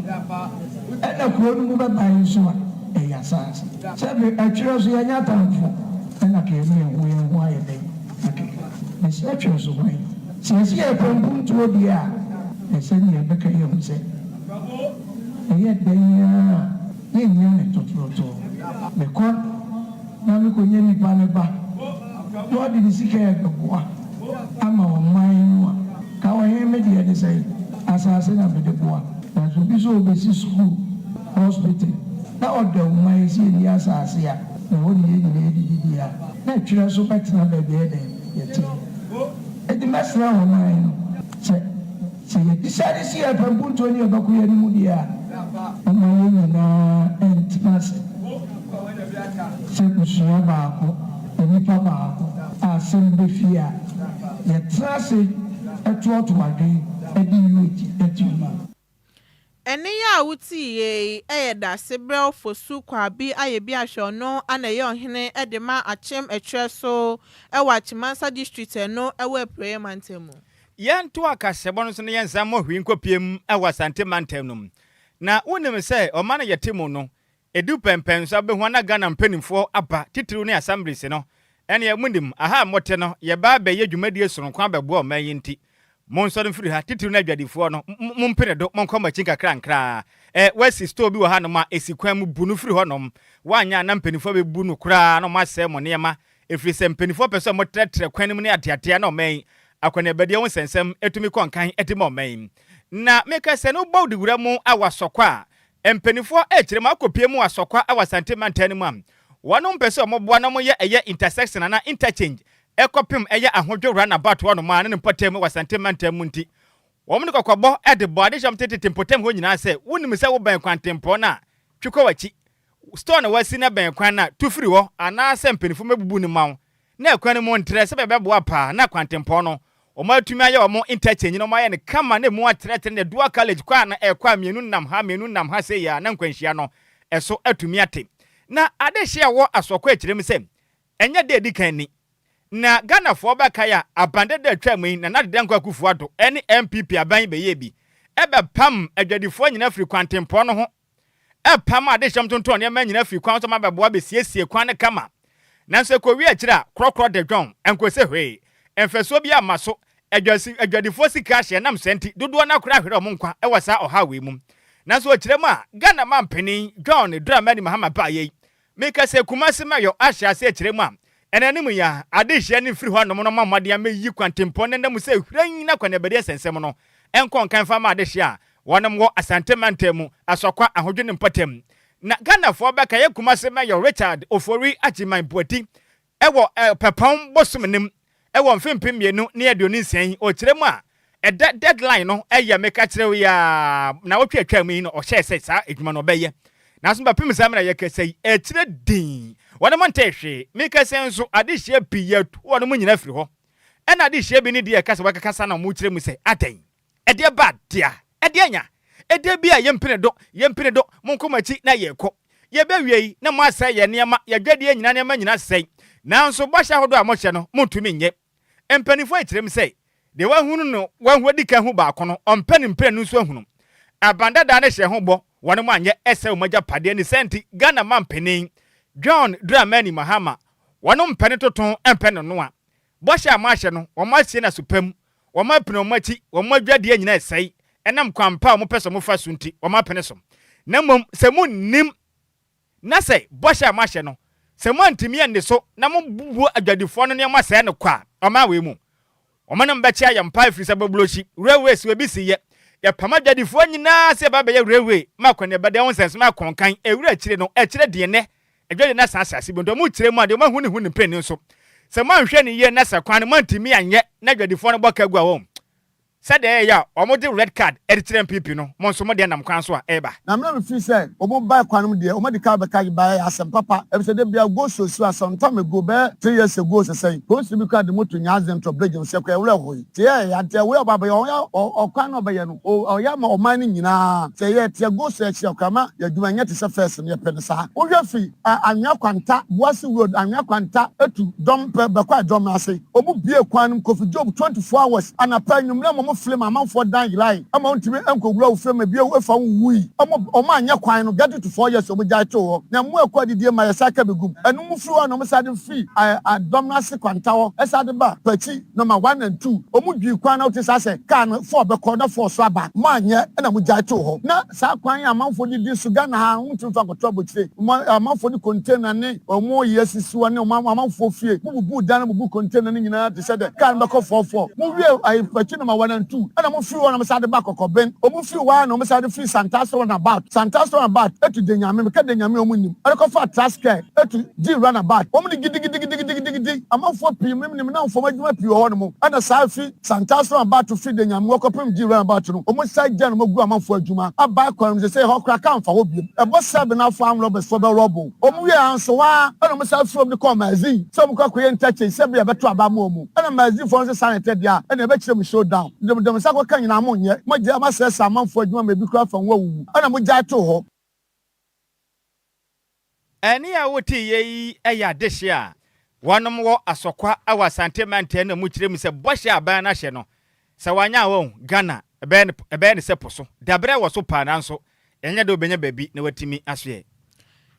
ɛna kurow no mu bɛbae nso a, ɛyɛ asase. Sɛ bere, ɛtwerɛ so, yɛanya atamfo, ɛna ka yɛne yɛn ho yɛn ho ayɛ den. Aketewa, Mesrɛ twe nso hwan? Seesei a ɛtɔ mpontuo deɛ a, ɛsɛ deɛ yɛbɛka yi ahu sɛ ɛyɛ dɛn ara a yɛnnya no tototoo. Mekɔ na mekɔnya nipa no ba na ɔde ne sika rebɛboa ama ɔman no a, ka ɔhene me deɛ ne sɛn? Asaase na mede boa. Nanso obi sɛ ɔbɛsi sukuu, hospital, na ɔda ɔman sie ne asaase a, Ɛhɔ ne yɛn nyinaa adidibea, na ɛtwerɛ nso bɛtena baabi a ɛyɛ dɛn? Yɛteɛ. Enti mɛsrɛ ɔman no sɛ, sɛ yɛabisa de si yɛn pɛmpuntuo ne yɛn bakuuyɛ no mu deɛ a, momma yɛn nyinaa ntena ase sɛ abusua baako, onipa baako a asɛm bi bɛfie a, yɛtena ase toatoa adwene de yi akyi. Ɛnne yi a wotiiɛ yi yɛ dase berɛw fo su kwaa bi a yɛbi ahwɛ ɔno ana ɛyɛ ɔhene de ma Akyem ɛtwerɛ so wɔ Akyem-Mansa District ɛno wɔ Apueɛ Mantam mu. Yɛnto akaseɛbɔ no so na yɛnsan mmɔ hwee nkɔpue mu wɔ Asante Mantam no mu. Na wonim sɛ ɔman a yɛte mu no, Edu pɛnpɛn so abehua na Ghana mpaninfoɔ aba, titiriw ne Assemblies no, ɛneɛ monim, aha a mote no, yɛba abɛyɛ dwumadie sononko abɛboa ɔman yi nti, monsɔre mfiri ha, titiriw ne adwadifoɔ no, mompene do, monkɔ mo akyi nkakrankraa. Ɛ, wɔasi store bi wɔ hanom a, si kwan mu, bu no firi hɔnom, woanyɛ a na mpaninfoɔ abebu no koraa na wɔasɛe mo nneɛma, efiri sɛ mpaninfoɔ pɛ sɛ wɔtrɛtrɛ kwan no mu ne ateatea na ɔman yi akɔneabadie ho nsɛnsɛm tumi kɔ nkan de ma ɔman yi. Na meka sɛ, no bɔ wo de wura mu a, wasɔ kɔ a, Mpaninfoɔ rekyerɛ mu akɔpue mu Asɔkwa wɔ Asante mantan no mu a wɔnom mpɛ sɛ wɔn boa na wɔn yɛ ɛyɛ intersection anaa interchange ɛkɔpem ɛyɛ Ahodwo round about hɔ nom a ne ne mpɔtam mu wɔ Asante mantam mu nti wɔnom de kɔkɔbɔ de bɔ adehyɛm te tete mpɔtam hɔ nyinaa sɛ wo nim sɛ wo bɛn kwantempɔn no a twe kɔ wakyi store na wasi na bɛn kwan no a tu firi hɔ anaa sɛ mpaninfoɔ mɛbubu no ma wo Na ɛkwan no mu ntrɛ sɛdeɛ ɛbɛboa paa na kwantempɔn no wɔatumi ayɛ wɔn interchange no, wɔayɛ no kama na ɛmu atrɛtrɛ na dual carriage kɔ a na ɛkɔ a mmienu nam ha, mmienu nam ha sei a na nkwanhyia no ɛso atumi ate. Na adehyeɛ a ɛwɔ Asoɔkɔ akyire mu sɛ ɛnyɛ da a ɛdi kan ni. Na Ghanafoɔ bɛkae a aban dada a ɛtwaam yi Nana Adeda Nkoa Akufo-Addo ne NPP aban yi bɛyɛɛ bi bɛpam adwadifoɔ nyinaa firii kwantempɔn no ho Ɛpam adehyɛm tontɔn nneɛma nyinaa fi kwan so ma bɛboa besiesie kwan no kama. Nanso ekowie akyiri a, korɔkorɔ de dwɔn, ɛnkɔsi hwee. Mfasoɔ biara mma so. Adwasi, adwadifoɔ sika ahye ɛnam saa nti, dodoɔ no ara koraa ahwere wɔn nkwa wɔ saa ɔhaw wei mu. Nanso ɔkyerɛ mu a, Ghana manpanin, John Dramani Mahama baeɛ yi, Meka sɛ Kumasi ma yɔ ahyɛ aseɛ kyerɛ mu a, ɛna anim yi ara, adehyeɛ no mfiri hɔnom no mma mmɔden ammɛyiyi kwantempɔn no nna mu sɛ hwirann na akɔneabadie nsɛnsɛm no nkɔ nka mfa mma adehyeɛ a wɔnom wɔ Asante mantam mu, Asɔkwa, Ahodwo ne Mpɔtam. Na Ghanafoɔ bɛkaeɛ Kumasi Mayor Richard Ofori Agyeman Boadi Wɔ Ɔpɛpɔn bosoom no mu wɔ mfe mpem mmienu ne aduonu nsia yi, ɔkyerɛ mu a ɛda deadline no yɛ meka kyerɛ wo yi a naawɔtwe a ɛtwaa mu yi na ɔhyɛɛ sɛ saa adwuma no ɔbɛyɛ. Nanso bɛpem saa mmerɛ a yɛkasa yi ɛkyerɛ dinn, wɔnom ntee hwee. Meka sɛ nso adehyia pii yɛatu wɔnom nyinaa firi hɔ. Ɛna adehyia bi ne deɛ ɛka sɛ wɔkakasa na wɔkyerɛ mu sɛ adɛn? Ɛdeɛ ba dea, ɛdeɛ nya. Ɛdeɛ bi a yɛmpene do, yɛmpene do, monkɔ mo akyi na yɛrekɔ. Yɛbɛwiei na moasɛe yɛn nneɛma, yɛadwadie nyinaa nneɛma nyinaa sɛe. Nanso bɔhyɛ ahodoɔ a mohyɛ no, montumi nyɛ. Mpanimfoɔ yi kyerɛm sɛ, Deɛ wahunu no wahu adi kan hu baako no, ɔmpɛ no mprenu nso ahunu. Aban Dada no hyɛɛ ho bɔ, wɔne mo anyɛ, ɛsɛe wɔn agyapadeɛ, ne saa nti Ghana manpanin John Dramani Mahama, wɔnom mpɛ ne totoo, mpɛ ne noa. Bɔhyɛ a moahyɛ no, wɔasie no aso pa mu, wɔapene wɔn akyi, wɔn adwadie nyinaa resɛe ɛnam kwan pa a wɔpɛ sɛ wɔfa so nti, wɔapene so. Na mmom sɛ monnim, na sɛ bɔhyɛ a moahyɛ no, sɛ moantumi anni so, na mobubu adwadifoɔ no nneɛma sɛe no kwa a, ɔman wei mu, wɔn ne mo bɛkyea yɛn paa ɛfiri sɛ Bɔblochi, railway, so ɛbisi yɛ, yɛpam adwadifoɔ nyinaa sɛ yɛba abɛyɛ railway ma akɔneaba dan ho nsɛnso ma akɔnkan, ɛwira akyire no, ɛkyerɛ deɛ nnɛ Ɛdwa de na saa asase bɔn, deɛ ɔmo kyerɛ mu a, deɛ ɔmo ahu ne ho ne mprenu nso. Sɛ mo anhwɛ no yie na sɛ kwan no mo antumi anyɛ na adwadifoɔ no bɔ ka gu a wɔn sɛdeɛ ɛɛyɛ a ɔmo de red card de kyerɛ npp no mo nso mo deɛ nam kwan so a ɛɛba. Na mmerɛ me firi sɛ ɔmo baɛ kwan no mu deɛ ɔmo adi kan abɛka de baɛ yɛ asɛm papa ɛfisɛ da biara go slow slow a some time ago bɛɛ three years ago sesɛn polisini bi koraa de moto nyaa zentro bridge no sɛ kɔ ɛwerɛ hooe te ɛɛ ante ɛwerɛ ɔba abɛyɛ ɔyɛ ɔkwan na ɔbɛyɛ no. O ɔyɛ ama ɔman no nyinaa. Sɛ yɛ teɛ go so akyiri a, koraa ma yɛ adwuma nyɛ te sɛ first no, yɛ pɛ no saa. Wo hwɛ fi ɛ Anwea Kwanta, Boase Road, Anwea Kwanta, Etu, Dɔm pɛ bɛ kɔ Adwɔmena ase. Ɔmo buee kwan no mu Kofi Job twenty four hours, anapa, anwumerɛ ma ɔmo flee ma amanfoɔ dan yerae ma wontumi nkɔ wura wo fie ma ebi awu efa wo nwuui. Ɔmo ɔmo anyɛ kwan no, get it to four years ɔmo gyae too hɔ. Na mmoa ɛkɔ adidie ma yɛ saa ka bɛ gum. Ɛno mu firi hɔ a na ɔmo saa de firi ɛ Adwɔmena ase Kwanta hɔ ɛsaa de ba Kwakyi. na ma one and two ɔmo dwii kwan na wote saa sɛ car no four bɛkɔ na four so aba mo anyɛ na mo gyae too hɔ na saa kwan yi amanfoɔ de di so Ghana ha ɔmo tumi fa kɔto abokyire ɔmo amanfoɔ de container ne ɔmo yɛ sisi hɔ ne ɔmo amanfoɔ fie mo bubu dan na mo bu container no nyinaa te sɛ dɛ car no bɛkɔ four four mo wie ayefakyi na ma one and two ɛna mo firi hɔ na mo san de ba kɔkɔben ɔmo firi hɔ a na ɔmo san de firi santaase run about santaase run about ɛtu denyame meka denyame ɔmo nim ɛde kɔfa trascare ɛtu gyi run about ɔmo de gidigidigidigidigidi. Amanfoɔ pii mem nim na mfam adwuma pii wɔ hɔ nom. Ɛna saa fi Santaso aba to fi Denyan mu kɔpem Gyi Ryan aba to no, wɔn san gya nom gu amanfoɔ adwuma aba kwan nom. Sesei hɔ koraa kaa mfa hɔ biom. Ɛbɔ sɛ Benafo arm robbers foɔ bɛ rob wɔn. Wɔn wie a nso hɔ ara na wɔn san firi hɔ de kɔɔ Mazi sɛ wɔn kɔ akɔyɛ interchange sɛ bia ɛbɛto aba ama wɔn. Ɛna Mazi foɔ nso san retɛ deɛ a ɛna ɛbɛkyerɛ mu show down. Nti mo de mo nsa kɔka nyinaa mo nyɛ. Mo agyae mo asɛesɛe amanfoɔ adwuma ma ebi koraa fa nwura wuwu. Ɛna mo gyae too hɔ. Ɛnne a woteeɛ yi yɛ adehye a wɔnom wɔ Asɔkwa wɔ Asante Mantam na mu kyerɛ mu sɛ bɔhyɛ a aban no ahyɛ no, sɛ wɔanyɛ a wɔn, Ghana, bɛyɛ no ɛbɛyɛ no sɛ po so. Dabrɛ wɔ so paa nanso ɛnyɛ dɛ wobɛnya baabi na woatumi asoɛ.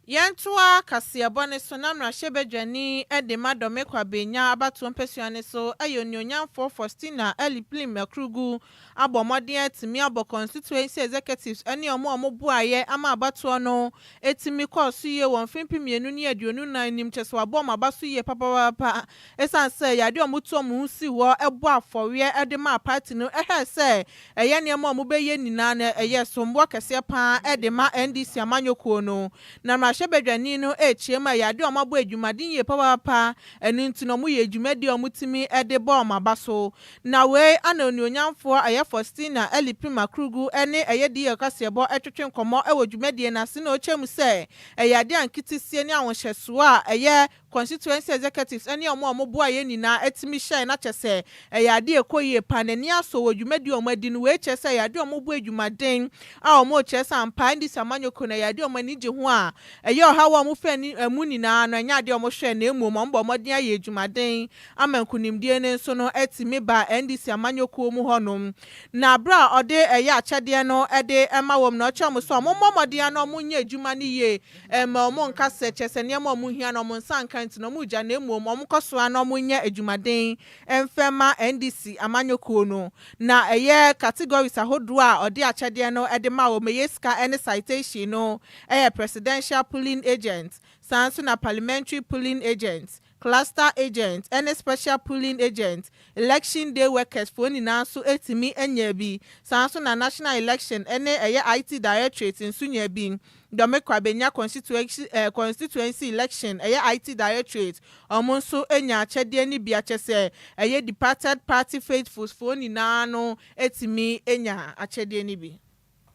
Yɛntoa kaseɛbɔ no so na mmarahyɛbadwani de ma Dɔmekwa Benya abatoɔ mpasua no so yɛ Onuonyamfoɔ Faustina Eliplim Akurugu abɔ mmɔden atumi abɔ constituency executives ne wɔn a wɔboaeɛ ama abatoɔ no tumi kɔɔ so yie wɔ mfe mpem mmienu ne aduonu nnan no mu, kyerɛ sɛ wɔabɔ wɔn aba so yie papaapa ɛsiane sɛ ɛyɛ adeɛ a wɔtuu wɔn ho sii hɔ bɔɔ afɔreɛ de maa party no hwɛɛ sɛ ɛyɛ nneɛma a wɔbɛyɛ nyinaa no ɛyɛ somboɔ kɛseɛ pa ara de ma NDC amanyɔkuo no na mmarahyɛbadwani no rekyia mu a ɛyɛ adeɛ a wɔabɔ adwumaden yie papaapa ɛno nti no wɔyɛɛ dwumadie a wɔtumi de bɔɔ wɔn aba so Na wei ana onuonyamfoɔ Ɛyɛ Faustina Eli Prima Krugu ne Ɛyɛ DL kaseɛbɔ retwetwe nkɔmmɔ wɔ dwumadie no ase na ɔkyɛ mu sɛ ɛyɛ adeɛ a nketesie ne ahohyɛsoɔ a ɛyɛ Constituency Executives ne wɔn a wɔboa yɛn nyinaa tumi hyɛe na kyɛ sɛ ɛyɛ adeɛ a ɛkɔ yie paa n'ani asɔ wɔ dwumadie a wɔadi no wei kyerɛ sɛ ɛyɛ adeɛ a wɔbɔ adwumaden a wɔkyerɛ sɛ ampa ara ndc amanyɔkuo no ɛyɛ adeɛ a wɔn ani gye ho a ɛyɛ ɔhaw a wɔfiri mu nyinaa no ɛnyɛ adeɛ a wɔhwɛ na mmom wɔbɔ mmɔden ayɛ adwumaden ama nkunimdie no nso no atumi ba NDC amanyɔkuo mu hɔ nom, na berɛ a ɔde ɛyɛ akyɛdeɛ no de ma wɔn no ɔkyerɛ wɔn sɛ wɔmmɔ mmɔden ara na wɔnyɛ adwuma no yie mma wɔn nka sɛ kyerɛ sɛ nneɛma a wɔhia no wɔn nsa nka nti na wɔregya na mmom wɔnkɔ so ara na wɔnyɛ adwumaden mfa mma NDC amanyɔkuo no na ɛyɛ categories ahodoɔ a ɔde akyɛdeɛ no de ma wɔn ɛyɛ sika ne citation no ɛyɛ Presidential Polling Agents saa nso na Parliamentary Polling Agents cluster agent ne special polling agent, election day workers foɔ nyinaa nso tumi nyaa bi, saa nso na National Election ne ɛyɛ IT Directorate nso nyaa bi, Dɔmekwa bɛnya constituency eh, constituency election ɛyɛ IT Directorate, wɔn nso nyaa akyɛdeɛ no bi akyɛsɛ ɛyɛ departed party faithfuls foɔ nyinaa no tumi nyaa akyɛdeɛ no bi.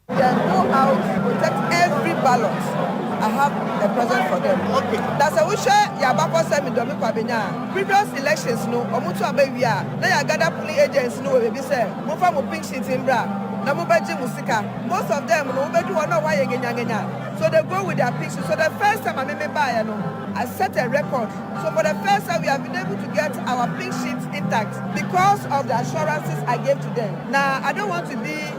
Then go out protect every ballot I have a present for them na sɛ wohwɛ yɛn abakɔsɛm me dɔ me kwa benya a previous elections no wɔn to aba wie a na yɛ agada polling agents no wɔ baabi sɛ momfa mo pink sheet mbra na mo bɛgye mo sika most of them no wobedu hɔ na wɔn ayɛ ngenyangenya so they go with their pink sheet so the first time a me me baayɛ no I set a record so for the first time we have been able to get our pink sheet intact because of the assurances I gave to them na I don't want to be.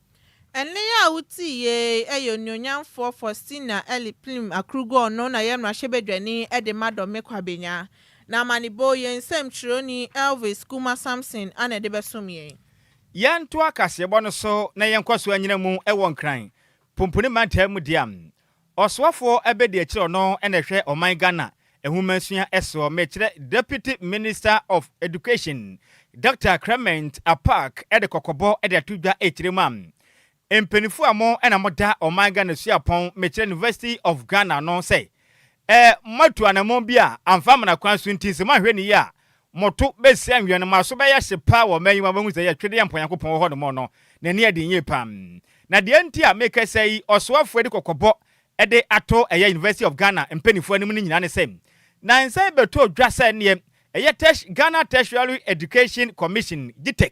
Ɛnne yi a wotii yei yɛ Onuonyamfoɔ Faustina Elie Plim Akrugor no na yɛ mmarahyɛbadwani de ma Dɔme Kwabenya, na amanebo yɛn nsɛm kyerɛwni Elvis Kumah Samson na ɛde bɛsom yɛn. Yɛntoa kaseɛbɔ no so na yɛnkɔ so anyina mu wɔ Nkran, Pumpuni Mantam mu deɛ. Ɔsoafoɔ abɛdiakyirɛ no na ɛhwɛ ɔman Ghana nwomasua soɔ mekyerɛ Deputy Minister of Education Doctor Clement Apaak de kɔkɔbɔ de ato dwa ɛkyirɛ mu a mpaninfoɔ a mo na mo da ɔman Ghana suapɔn mekyerɛ University of Ghana no sɛ ɛ mo atu anamɔn bi a amfa amana kwan so nti sɛ mo anhwɛ no yie a Mo to bɛsi anwea no, mo aso bɛyɛ hye paa wɔ ɔman yi mu a moahu sɛ ɛyɛ twedeɛ mpo a Nyankopɔn wɔ hɔ no mo no, n'ani aden yie paa. Na deɛ nti a mekasa yi, ɔsoafoɔ adi kɔkɔbɔ de ato ɛyɛ University of Ghana mpaninfoɔ anim no nyinaa ne sɛ, nansa yi bɛtɔɔ dwa sɛ neɛ ɛyɛ Terti Ghana Tertiary Education Commission, GTEC,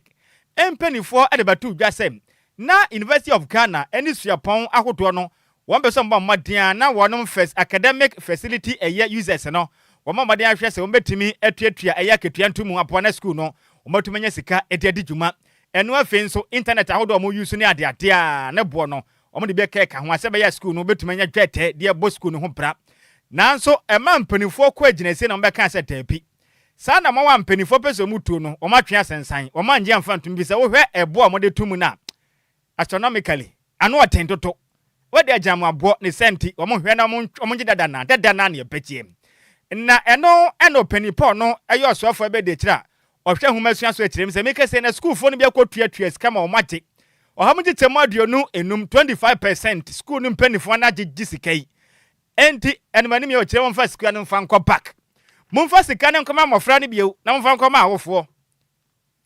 mpaninfoɔ de bɛtoo dwa sɛ na University of Ghana ne suapɔn ahodoɔ no Wɔn pɛ sɛ wɔbɔ mmɔden a na wɔnom first academic facility ɛyɛ users no wɔbɔ mmɔden ahwɛ sɛ wɔbɛtumi atuatua ɛyɛ akatua nto mu aboa na sukuu no wɔatumi anya sika de adi dwuma ɛno afei nso internet ahodoɔ a wɔn use ne adeade a ne boɔ no wɔn de bi ɛka ɛka ho a sɛ ɛbɛyɛ a sukuu no bɛtumi anya dwɛɛtɛ de ɛbɔ sukuu no ho bra nanso ɛmaa mpaninfoɔ kɔ agyinasie na wɔn bɛkaa sɛ daabi saa na wɔn a mpaninfoɔ pɛ sɛ wɔn tuo no wɔn atwe asɛnsan wɔn annye amfa ntom efisɛ wohwɛ ɛboɔ a wɔn de to mu no a Astronomically, ano ɔten toto. Wode agyinamoaboɔ ne saa nti wɔn hwɛ na wɔn gye dada na dada na neɛ pɛtie. Na ɛno na ɔpanin Paul no yɛ ɔsoafoɔ bɛ de akyire a ɔhwɛ nwoma sua so akyire mu sɛ meka sei na sukuufoɔ no bi akɔ tua tua sika ma wɔn agye ɔha mu gye kyɛmu aduonu enum, 25 per cent, sukuu no mpaninfoɔ ana gye gye sika yi enti ɛno manim yɛ ɔkyerɛ wɔn fa sika no mfa nkɔ back. Momfa sika no nkɔma mmɔfra no bio na momfa nkɔma awofoɔ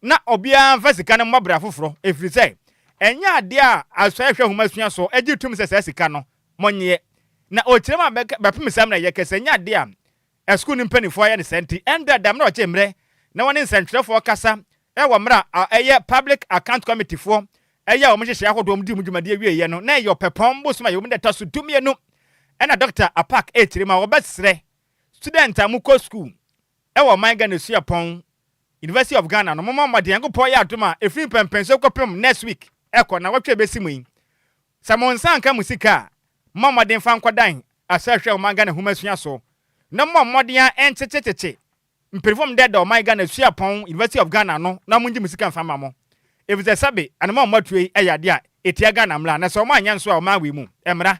na obiara mfa sika no mmɔ bra foforɔ, ɛfiri sɛ, ɛnyɛ adeɛ a asɔɛ hwɛ hom asua so gye tum sɛ saa sika no mo nyeɛ, na okyirem a bɛpem saa mmra yi ɛkɛ sɛ ɛnyɛ adeɛ a ɛsukuu no mpaninfoɔ ayɛ no saa nti ɛndra dam na ɔgye mmrɛ na wɔne nsɛntwerɛfoɔ kasa wɔ mmra a ɛyɛ public account committee foɔ ɛyɛ a wɔn nhyehyɛɛ ahodoɔ wɔn dii wɔn dwumadie wieɛ no na ɛyɛ ɔpɛpɔn bosom a ɛwɔ mu da ɛtɔ so du mmienu ɛna Dɔkta Apaak ɛkyirem a wɔbɛsrɛ students a mo kɔ sukuu Ɛwɔ ɔman Ghana suapɔn University of Ghana no momɔ mmɔden Nyankopɔn yɛ adom a ɛfiri mpɛnpɛnsoɔ kɔpem next week ɛkɔ nawɔtwe a ɛbɛsi mu yi sɛ mo nsa anka mo sika a mommɔ mmɔden mfa nkɔdan asrahwɛ ɔman Ghana nhomasua so na mommɔ mmɔden a ɛnkyekyekyekye mpirifom dɛdɛ ɔman Ghana suapɔn University of Ghana no na mongye mo sika mfa mma mo ɛfiri sɛ sɛbe anoma a wɔatuo yi ɛyɛ adeɛ a ɛtia Ghana mmara na sɛ wɔanyɛ nso a ɔman wei mu mmara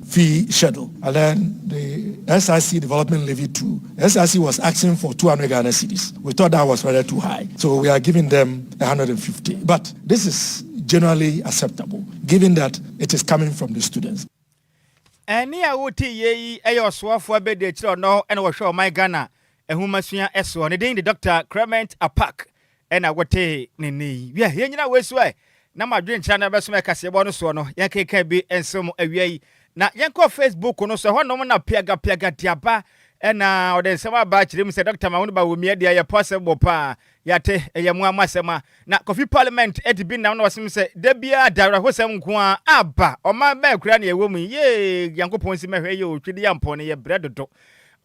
fee hyɛ do. And then the SIC development levy too, the SIC was asking for two hundred Ghana cedis, we thought that was rather too high, so we are giving them a hundred and fifty, but this is generally acceptable given that it is coming from the students. Ɛne a wotee yei yi yɛ ɔsoafoɔ abɛdi akyire ɔno na wɔhwɛ ɔman Ghana nhomasua soɔ. Ne din de Doctor Clement Apack Ɛnna wɔtee ne nne yi. Wiɛ, yɛn nyinaa wɔasu ɛ, na mo adwenkyerɛ no bɛso me kaseɛbɔ no soɔ no, yɛnkenkan bi nso mo awia yi. Na yɛnkɔ Facebook no so, ɛhɔ nom na Piaga Piaga de aba. Ɛnna ɔde nsɛm aba kyerɛ mu sɛ, Dɔkta Mahmoud Bawumia deɛ yɛ possible paa. Yɛate, ɛyɛ mo ara mo asɛm a. Na Kofi Parliament adi bi nnam na wɔsom sɛ, da biara da awerɛhosɛm nko ara aba. Ɔman bɛn koraa na yɛwɔ mu yi? Yee! Nyankopɔn nsi mmɛhwɛ yɛ o, Twideyampo no yɛbrɛ dodo.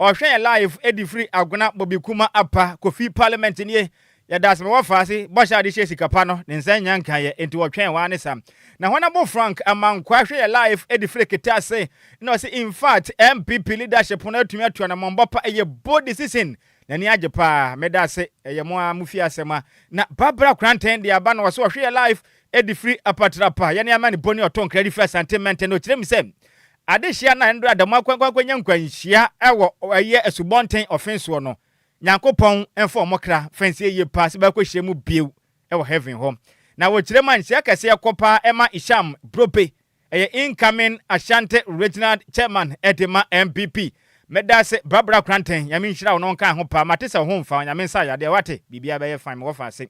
Ɔhwɛ yɛ live ɛdi firi Agona Bobi Kuma Apa Kofi Parliament nie yɛda ase ma wɔfaa ase bɔhyɛ a de hyɛɛ sika pa no ne nsa nnya nkaeɛ enti wɔtwɛn waa ne sa na hɔn abo Frank Amankwah hwɛ yɛ live ɛdi firi Kete ase na ɔse infact NPP leadership no atumi atu anamɔnbɔ pa ɛyɛ bold decision n'ani agye paa meda ase ɛyɛ mo aa mofie asɛm a na Barbara Kranten de aba na ɔse ɔhwɛ yɛ live ɛdi firi Apatrapa yɛne Amane Boni Ɔtonkra ɛdi firi Asante Menten na ɔkyerɛ mu sɛ Adehye a na ndɔ da mu akwankwankwannya nkwanhyia wɔ ɔyɛ asubɔnten ɔfen soɔ no, Nyankopɔn mfa wɔn kra fa nsie yie paa sɛ bɛakɔhyia mu bio wɔ Heaven hɔ. Na wɔkyerɛ mu a, nhyira kɛseɛ kɔ paa ma Isham Brope, ɛyɛ incoming Ashanti Regional Chairman de ma NPP. Meda ase Barbara Kranten, Nyame nhyira wo na ɔnka ho paa. Mate sɛ wo ho mfa wo, Nyame nsa yadeɛ, wate? Biribiara bɛyɛ fine, mewɔ fa ase.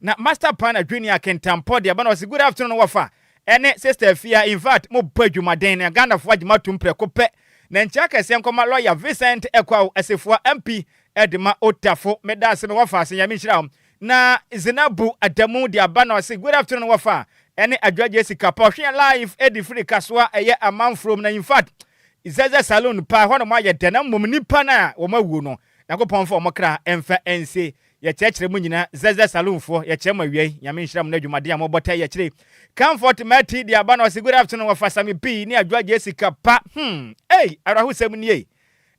Na Master Pan Adwinni Akintampɔ deɛ, ɛba na ɔse, Good afternoon, wɔ fa? Ɛne sister afia infact mo bɔ adwumaden na Ghanafoɔ agye mo atom prɛko pɛ na nkyɛ akɛseɛ nkɔma lawyer Vincent Ekwao Assefuwa MP de ma Ottafo meda ase mewɔ afaase Nyame nhyira wo na Zinabu Adamu de aba na ɔse good afternoon wɔfa ɛne Adwoa Gyesi Kappa ɔhweɛ live ɛde firi Kasoa ɛyɛ Amanfrom na infact Zɛzɛ Saloon paa ɛhɔ nom ayɛ dɛ na mmom nipa no a wɔn awuo no Nyankopɔn mfa wɔn kra mfa nsie. Yɛkyerɛkyerɛ mo nyinaa zɛzɛ saloon foɔ yɛkyerɛ mo awiei nyame nhyira mo na adwumaden a mobɔ tɛ yɛkyere Camfort Mati de aba no ɔse good afternoon wɔfa Sammy B ne Adwoa Gye sika pa hmm ei awerɛhosɛm nie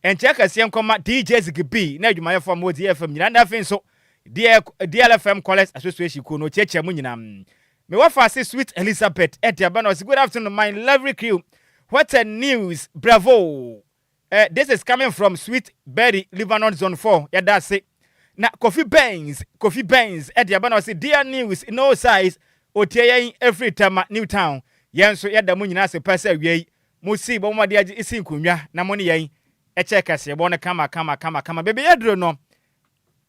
nkyɛ kɛseɛ nkɔma DJ Ziggy B ne adwumayɛfoɔ a mowɔ Zee FM nyinaa na afei nso deɛ DLFM Callers Association kuo no ɔkyiakyia mo nyinaa me wɔfa ase Sweet Elizabeth de aba no ɔse good afternoon my lovely crew what a news bravo Eh this is coming from sweet berry Lebanon zone four yɛda ase na Kofi Benz Kofi Benz de aba na ɔse dear news no size otie yɛn ɛfiri Tema new town yɛn nso yɛda mo nyinaa ase paa sɛ awia yi mo sii bɔ mo mmɔden agye sii nkonnwa na mo ne yɛn ɛkyɛɛ kaseɛbɔ no kama kama kama kama baabi yɛduru no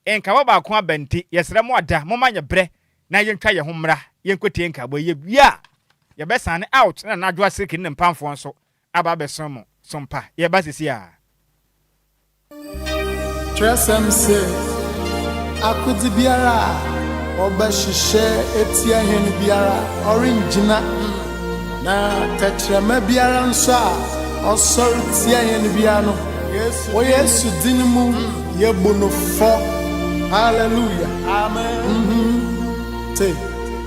nkaebɔ baako aba nti yɛsrɛ mo ada momma nyɛ berɛ na yɛntwa yɛn ho mmra yɛnkɔtie nkaebɔ yi yɛwie a yɛbɛsane out na Nana Adwoa Siriki ne ne mpamfoɔ nso Aba abɛsra mo so mpa yɛ ba sisi a. Twerɛsɛm se, Akodze biara a wɔbɛhyehyɛ etsia hɛn biara ɔrenngyina, na tɛkyerɛma biara nso a ɔsɔr tsia hɛn biara no, wɔ Yesu dzin mu yebu no fɔ. Hallelujah! Amen! Te!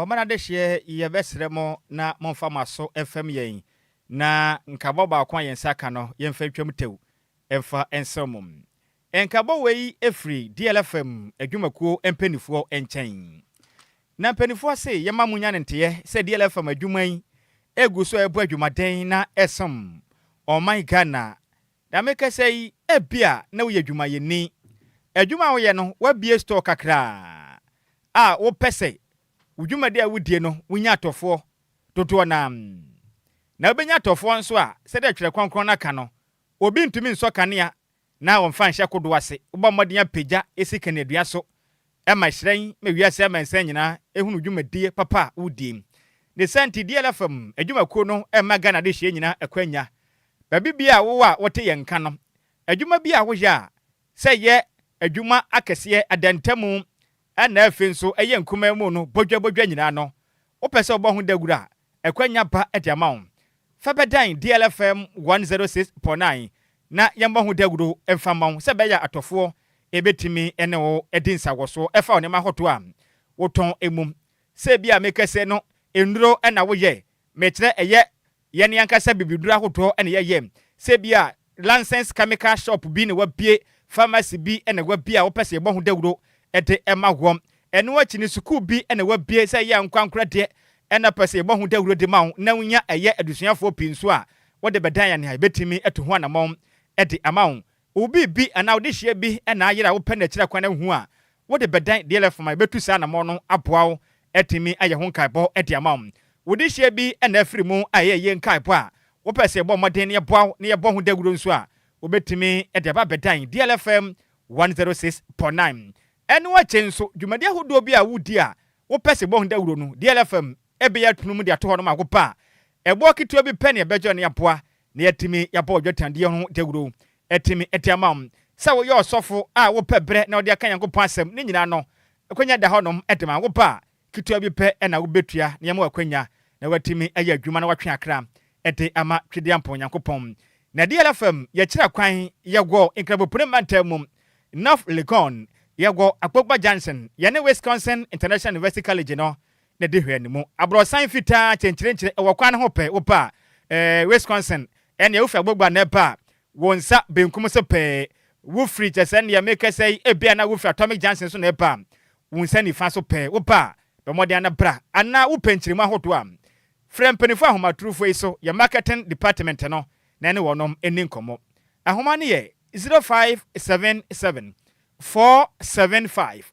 Ɔman adehyeɛ yɛbɛsrɛ mo na momfa mo aso mfɛm yɛn na nkabɔ baako a yɛn nsa aka no yɛmfa ntwam tɛw mfa nserew mo. Nkabɔ wei firi DLFM adwumakuo mpaninfoɔ nkyɛn. Na mpaninfoɔ se yɛma mo nya no nteɛ sɛ DLFM adwuma yi egu so ɛbɔ adwumaden na ɛsom ɔman Ghana Nea merekasa yi, ebia na woyɛ dwumayɛni. Adwuma a woyɛ no, woabue store kakraa a wopɛ sɛ wo dwumadi a wudie no, wunya atɔfoɔ dodoɔ no ara. Na wobɛnya atɔfoɔ nso a, sɛdeɛ Twerɛ Kronkron no ka no, obi ntumi nsɔ kanea na ɔmfa nhyɛ kodoɔ ase. Wobɔ mmɔden apagya esi kaneadua so Ɛma hyerɛn ma wiase amansan nyinaa hunu dwumadie papa a wodie. Ne saa nti DLFM adwumakuo no mma Ghana adehyeɛ nyina akwanya. Baabi biara a wowɔ a wote yɛn nka no, adwuma bi a woyɛ a, sɛ ɛyɛ adwuma akɛseɛ, adantamu, ɛna afei nso ɛyɛ nkumaa mu no, bɔdwa bɔdwa nyinaa no, wopɛ sɛ wobɔ ho dawuro a, Akwanya pa de ama wo. Fa bɛdan DL FM 106.9 na yɛmmɔ ho dawuro mfa mma wo sɛ ɛbɛyɛ a atɔfoɔ bɛtumi ne wo adi nsawɔsoɔ fa nneɛma ahodoɔ a wotɔn mu. Sɛ ebia mekɛsɛ no nnuro na woyɛ, mekyerɛ ɛyɛ yɛn ankasa bibiduro ahodoɔ na yɛyɛ. Sɛ ebia License chemical shop bi na wabue, pharmacy bi na wabue a wɔpɛ sɛ yɛbɔ ho dawuro de ma wɔn. Ɛno akyi no, sukuu bi na wabue sɛ ɛyɛ a ankorankoro deɛ na ɔpɛ sɛ yɛbɔ ho dawuro de ma wo na wonya ɛyɛ adesuafoɔ pii nso a, wode bɛdan anaa yɛbɛtumi atu ho anammɔn de ama wo. Wo biribi anaa wo dehyeɛ bi na ayera a wopɛ no akyiri kwan a wohu a, Wode bɛdan DLF ma ebetu saa anammɔn no aboa wo atumi ayɛ ho nkaebɔ de ama wo. Wo dehyeɛ bi na afiri mu a ɛyɛ yie nkaebɔ a wopɛ sɛ yɛbɔ mmɔden na yɛboa wo na yɛbɔ ho dawuro nso a, wobɛtumi de aba abɛdan DLFM 106.9. Ɛno akyi nso, dwumadi ahodoɔ bi a wodi a wopɛ sɛ yɛbɔ ho dawuro no, DLFM bɛyɛ atunum de ato hɔ no ma wo ba a, ɛboɔ ketewa bi pɛ na yɛbɛgye na yɛaboa na yɛatumi yɛabɔ dwetɛadeɛ ho dawuro atumi de ama wo. Sɛ woyɛ ɔsɔfo a wopɛ berɛ na wode aka Nyankopɔn asɛm ne nyinaa no, akwanya da hɔnom de ma wo ba a, ketewa bi pɛ na wobɛtua na yɛama wo akwanya na woatumi ayɛ adwuma na woatwe akra de ama Twedeampɔn Nyankopɔn. Na DLFM yɛkyerɛ kwan, yɛwɔ Nkrabopuni mantam mu, North Legon, yɛwɔ Akpokpa Junction, yɛne Wisconsin International University College no na di hwɛ no mu. Aborɔsan fitaa kyenkyerenkyere wɔ kwan no ho pɛɛ, wopɛ a, eh, Wisconsin, ɛnneɛ wufi abogua na ɛba a, wo nsa benkum so pɛɛ, wufiri, kyerɛ sɛ, nea merekasa yi, ebia na wufiri Atomic Junction so na ɛba a, wo nsa nifa so pɛɛ, wopɛ a, bɔ mmɔden ara na bra, anaa wopɛ nkyeremu ahodoɔ a, frɛ mpanyinfoɔ ahomatorofo yi so, yɛ marketing department no, na ɛne wɔnom nni nkɔmmɔ. Ahoma no yɛ zero five seven seven four seven five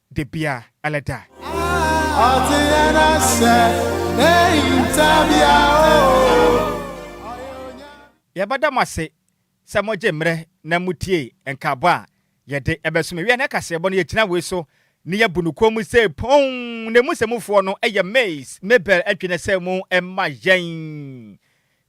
Da bia ɛlɛ da. Ɔte yɛn asɛ n'ahintabea o. Yɛbɛda mo ase sɛ mogye mmerɛ na motie nkaabɔ a yɛde ɛbɛso mo awia nnɛ kaseɛbɔ no yɛgyina wei so na yɛbu no komm sɛ poonn na ɛmu sɛmufoɔ no yɛ Maize Mabel Adwene sɛ mo mma yɛn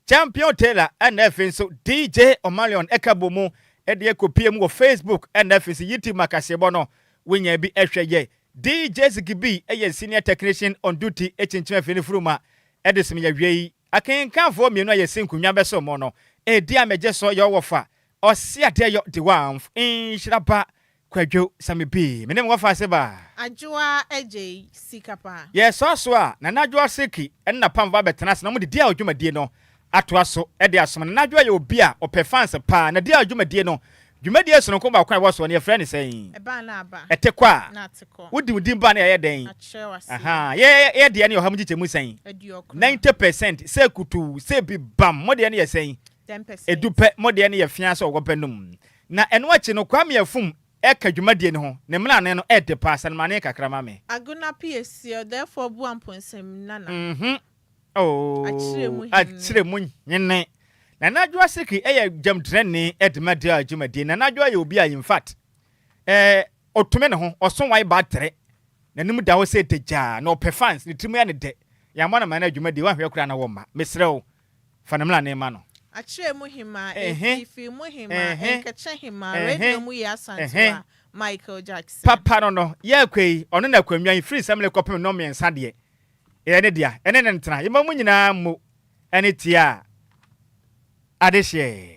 Champion Taylor ɛna afei nso DJ Omalion ɛka bɔ mu ɛde ɛkɔpie mu wɔ Facebook ɛna afei nso YouTube ma kaseɛbɔ no wonya bi ɛhwɛ yɛ. DJ Ziggy B ɛyɛ Senior Technician on duty ɛkyinkyim afei no furuma ɛde som yɛ awiei. Akenkanfoɔ mmienu a yɛsi nkonwa bɛsom mo no ɛdi a mɛgye so yɛ ɔwɔfa, Ɔseadeɛ Yɔ Dewanf, Nhyira Ba, Kwadwo sɛ me pii me ne mwafa se ba. Adwoa agyei sika pa. Yɛ soa so a Nana Adwoa Seki ne na pam va bɛtena ase na wɔde Diao dwumadie no atoa so de asom. Nana Adwoa yɛ obi a ɔpɛ fans paa. Na Diao dwumadie no, dwumadie sononko baako a ɛwɔ soɔ no yɛfrɛ no sɛn? Ɛba na aba. Ɛte kɔ a? Na ate kɔ. Wode wo din ba no a ɛyɛ dɛn? Akyerɛ wo aseɛ. Ahaa, yɛ yɛ deɛ no yɛ ɔha mu nkyekyɛmu sɛn? Aduokron. Ninety percent, sɛ kutuu, sɛ bi bam, mo deɛ no yɛ sɛn? Ten percent. Edu pɛ, mo deɛ no yɛ feaa sɛ ɔwɔ bɛ nom. Na ɛno akyi no, Kwame Afum reka dwumadie no ho, ne mmrane no ɛɛde paa, sɛnmane kakra ma me. Agona Piesi, ɔdɛɛfoɔ Boampo Nsɛmnana, Mm-hmm, oh, Akyerɛmu Hene. Nana Adwoa Aseke ɛyɛ gyamtrɛni ɛde ma Dea dwumadie. Nana Adwoa yɛ obi a in fact, ɛɛ, ɔtumi ne ho, ɔso wae batere, n'anim da hɔ sɛ dagyaa, na ɔpɛ fans, ne tiri mu yɛ no dɛ. Yɛammɔ no amanneɛ dwumadie, woanhwɛ koraa na womma. Mesrɛ wo, Fa ne mmra ne mma no. Akyerɛ mu hemaa eh fii fii mu hemaa eh nkɛkyɛ hemaa eh radio mu yɛ Asante wa Michael Jackson. Papa no no yɛ akwa yi ɔno na akwa nwa yi firi nsɛmle kɔpem nnɔn mmiɛnsa deɛ yɛ ne dea ɛne ne ntena yɛ mma mu nyinaa mmo ɛne tiaa adehyeɛ.